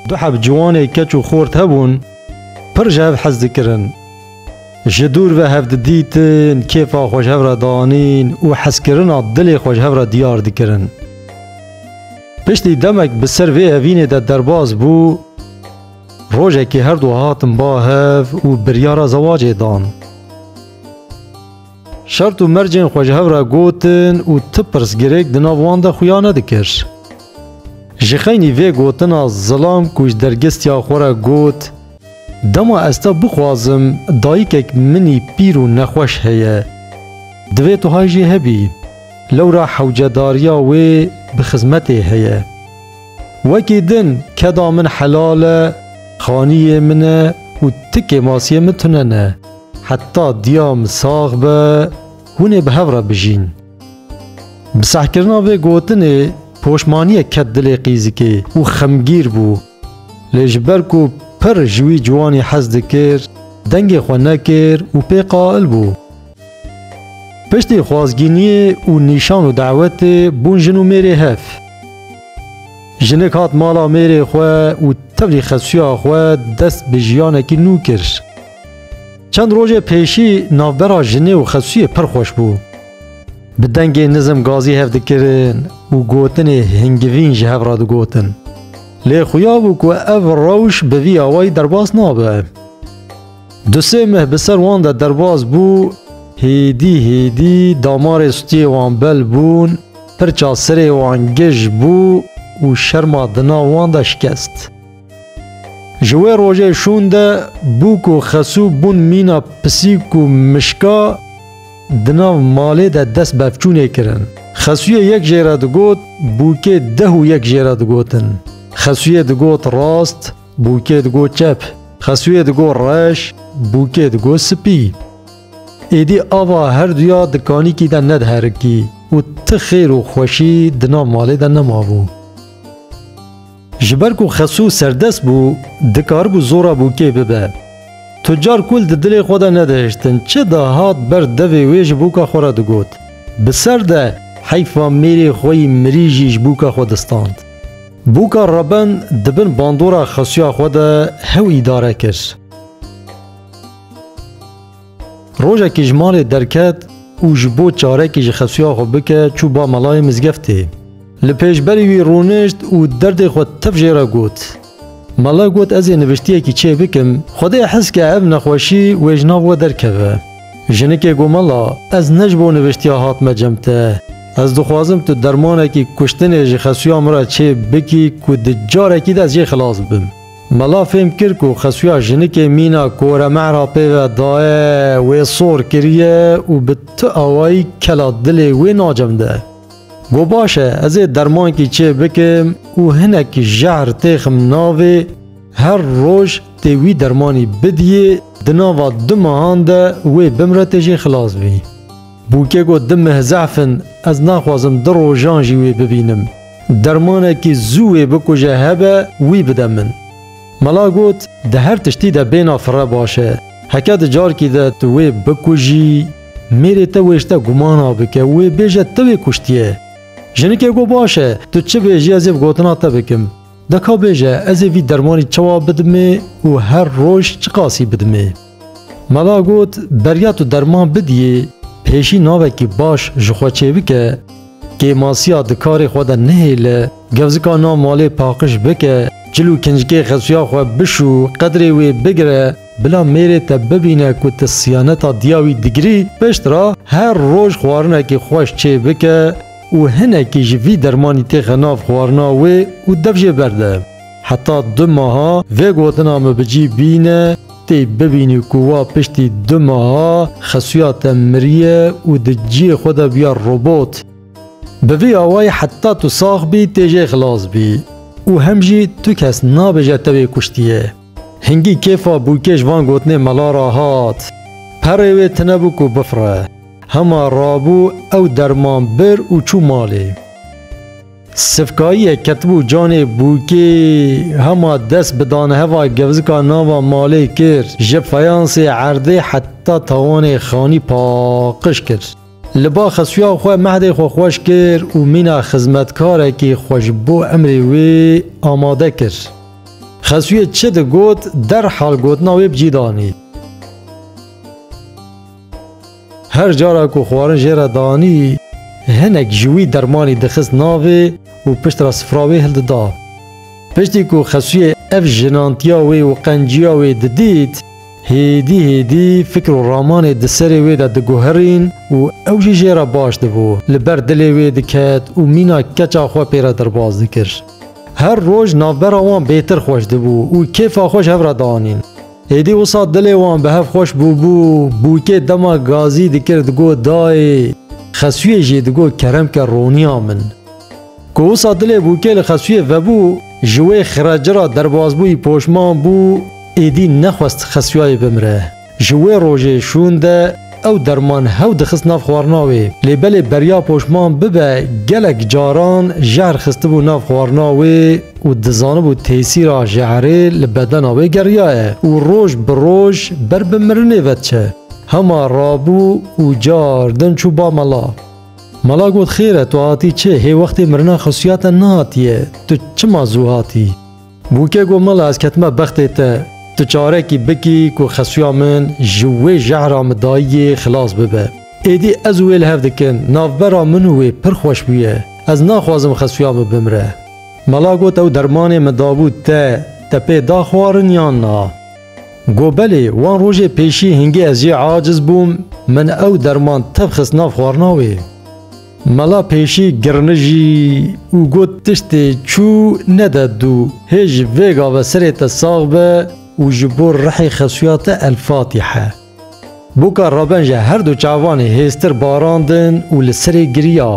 Du heb ciwanê keç û xort hebûn, pir ji hev hez dikirin. Ji dûr ve hev didîtin, kêfa xwe ji hev re danîn û hezkirina dilê xwe ji hev re diyar dikirin. Piştî demek bi ser vê evînê de derbas bû, rojekê herdu hatin ba hev û biryara zewacê dan. Şert û mercên xwe ji hev re gotin û tu pirsgirêk di nav wan de xuya nedikir. Ji xeynî vê gotina zilam ku ji dergestiya xwe re got, Dema ez te bixwazim, dayikek minî pîr û nexweş heye. Divê tu hay jî hebî. Lewra hewcedariya wê bi xizmetê heye. Wekî din keda min helal e, xaniyê min e û ti kêmasiyê min tune ne. Heta diya min sax be hûn ê bi hev re bijîn. Bi sehkirina vê gotinê poşmaniyek ket dilê Qîzikê û xemgîr bû. Lê ji ber ku pir ji wî ciwanî hez dikir, dengê xwe nekir û pê qail bû. Piştî xwazgîniyê û nîşan û dawetê bûn jin û mêrê hev. Jinik hat mala mêrê xwe û tevlî xesuya xwe dest bi jiyanekî nû kir. Çend rojê pêşî navbera jinê û xesûyê pir xweş bû. Bi dengê nizm gazî hev dikirin û gotinê hingivîn ji hev re digotin. Lê xuya bû ku ev rewş bi vî awayî derbas nabe. Du sê meh bi ser wan de derbas bû, hêdî hêdî damarê stûyê wan bel bûn, pirça sirê wan gij bû û şerma di nav wan de şikest. Ji wê rojê şûn de bû ku Xesû bûn mîna pisîk û mişka di nav malê de dest bevçûnê kirin. Xesûyê yek jê re digot, bûkê deh û yek jê re digotin. Xesûyê digot rast, bûkê digot çep. Xesûyê digot reş, bûkê digot spî. Êdî ava her duya di kanîkî de nediherikî û ti xêr û xweşî di nav malê de nemabû. Ji ber ku Xesû serdest bû, dikaribû zora bûkê bibe. Tucar kûl di dilê xwe de nedihiştin, çi dihat ber devê wê ji bûka xwe re digot, Bi ser de, heyfa mêrê xwe yî mirî jî ji bûka xwe distand. Bûka Reben di bin bandora Xesûya xwe de hew îdare kir. Rojekî ji malê derket û ji bo çarekî ji xesuya xwe bike çû ba melayê mizgeftê. Li pêşberî wî rûnişt û derdê xwe tev jê re got. Mele got ez ê niviştiyekî çê bikim, Xwedê hez ke ev nexweşî wê ji nav we derkeve. Jinikê got mela ez ne ji bo niviştiya hatime cem te. Ez dixwazim tu dermanekî kuştinê ji xesuya min re çê bikî ku di carekî de ez jê xilas bibim. Mala fêm kir ku xesuya jinikê mîna kore mehra pê ve daye wê sor kiriye û bi tu awayî kela dilê wê nacemde. Got baş e ez ê dermankî çê bikim û hinek jehr têxim navê her roj tê wî dermanî bidiyê di nava du mehan de wê bimre tê jê xilas bî. Bûkê got di meh zehf in ez naxwazim du rojan jî wê bibînim. Dermanekî zû wê bikuje hebe wî bide min. Mela got, Di her tiştî de bêna fire baş e. Heke di carkî de tu wê bikujî, mêrê te wêşte gumana bike û wê bêje te wê kuştiye. Jinikê got, Baş e, tu çi bêjî ez ê bi gotina te bikim. Deka bêje ez ê vî dermanî çawa bidimê û her roj çiqasî bidimê. Mala got, Beriya tu derman bidiyê, pêşî navekî baş ji xwe çêbike, kêmasiya di karê xwe de nehêle, gewzika nav malê paqij bike, cil û kincikê xesuya xwe bişû, qedrê wê bigire, bila mêrê te bibîne ku tu siyaneta diya wî digirî, piştre her roj xwarinekî xweş çêbike û hinekî ji vî dermanî têxe nav xwarina wê û dev jê berde. Heta du meha vê gotina min bi cî bîne, tê bibînî ku wa piştî du meha xesuya te miriye û di ciyê xwe de bûye robot. Bi vî awayî heta tu sax bî tê jê xilas bî û hem jî tu kes nabêje te wê kuştiye. Hingî kêfa bûkêş van gotinê mala re hat. Perê wê tinebû ku bifire. Hema rabû ew derman bir û çû malê. Sifkayîyek ketibû canê bûkê hema dest bi daneheva gewzika nava malê kir, ji feyansê erdê heta tawanê xanî paqiş kir. Li ba xesuya xwe mehdê xwe xweş kir û mîna xizmetkarekî xwe ji bo emrê wê amade kir. Xesuyê çi digot derhal gotina wê bi cî danî. Her cara ku xwarin jê re danî, hinek ji wî dermanî dixist navê û pişt re sifra wê hildida. Piştî ku Xesûyê ev jinantiya wê û qenciya wê didît, hêdî hêdî fikr û ramanê di serê wê de diguherîn û ew jî jê re baş dibû, li ber dilê wê diket û mîna keça xwe pê re derbas dikir. Her roj navbera wan bêtir xweş dibû û kêfa xwe ji hev re danîn. Êdî wisa dilê wan bi hev xweş bûbû, bûkê dema gazî dikir digot dayê, xesûyê jî digot keremke roniya min. Ku wisa dilê bûkê li xesûyê vebû, ji wê xireci ra derbasbûyî poşman bû, êdî nexwest xesûyayê bimire. Ji wê rojê şûn de, Ew derman hew dixist nav xwarina wê. Lê belê beriya poşman bibe gelek caran jehr xistibû nav xwarina wê û dizanibû tesîra jehrê li bedena wê geriyaye û roj bi roj ber bi mirinê ve diçe. Hema rabû û car din çû ba mala. Mala got xêr e tu hatî çi hê wextê mirina xesûyate nehatiye tu çima zû hatî? Bûke got, Mala ez ketime bextê te, tu çarekî bikî ku xesuya min ji wê jehra min dayiyê xilas bibe. Êdî ez û wê li hev dikin, navbera min û wê pir xweş bûye. Ez naxwazim xesuya min bimire. Mala got, Ew dermanê min dabû te, te pê da xwarin yan na? Got, Belê, wan rojê pêşî hingê ez jê aciz bûm, min ew derman tev xist nav xwarina wê. Mala pêşî girinijî û got tiştê çû nede dû. Hê ji vêga ve serê te sax be û ji bo rihê xesuya te El Fatihe. Boka Rabenje her du çavanê hêztir barandin û li serê giriya.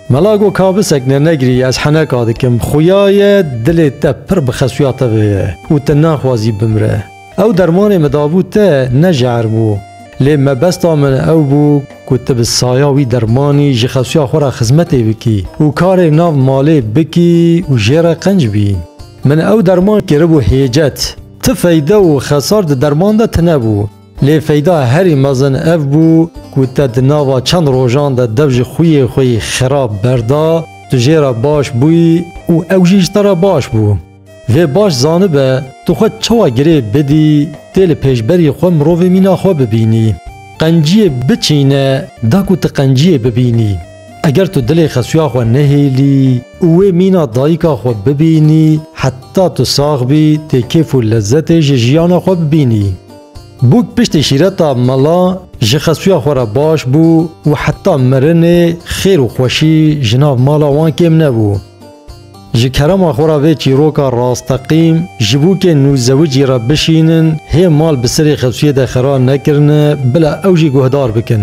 Mela got ka bisekine negirî ez heneka dikim, xuya ye dilê te pir bi xesuya te ve ye û tu naxwazî bimre. Ew dermanê min dabû te ne jehr bû. Lê mebesta min ew bû ku tu bi saya wî dermanî ji xewsiya xwe re xizmetê bikî û karê nav malê bikî û jê re qenc bî. Min ew derman kiribû hêcet. Ti feyde û xesar di derman de tinebû. Lê feyda herî mezin ev bû ku te di nava çend rojan de dev ji xwiyê xwe yî xerab berda, tu jê re baş bûyî û ew jî ji te re baş bû. Vê baş zanibe tu xwe çawa girê bidî tê li pêşberî xwe mirovê mîna xwe bibînî. Qenciyê biçîne da ku tu qenciyê bibînî. Eger tu dilê Xesuya xwe nehêlî û wê mîna dayika xwe bibînî heta tu sax bî tê kêf û lezzetê ji jiyana xwe bibînî. Bûk piştî şîreta mela ji Xesuya xwe re baş bû û heta mirinê xêr û xweşî ji nav mala wan kêm nebû. Ji kerema xwe re vê çîroka rasteqîm, ji bo kê nû zewicî re bişînin, hê mal bi serê Xesûyê de xera nekirine, bila ew jî guhdar bikin.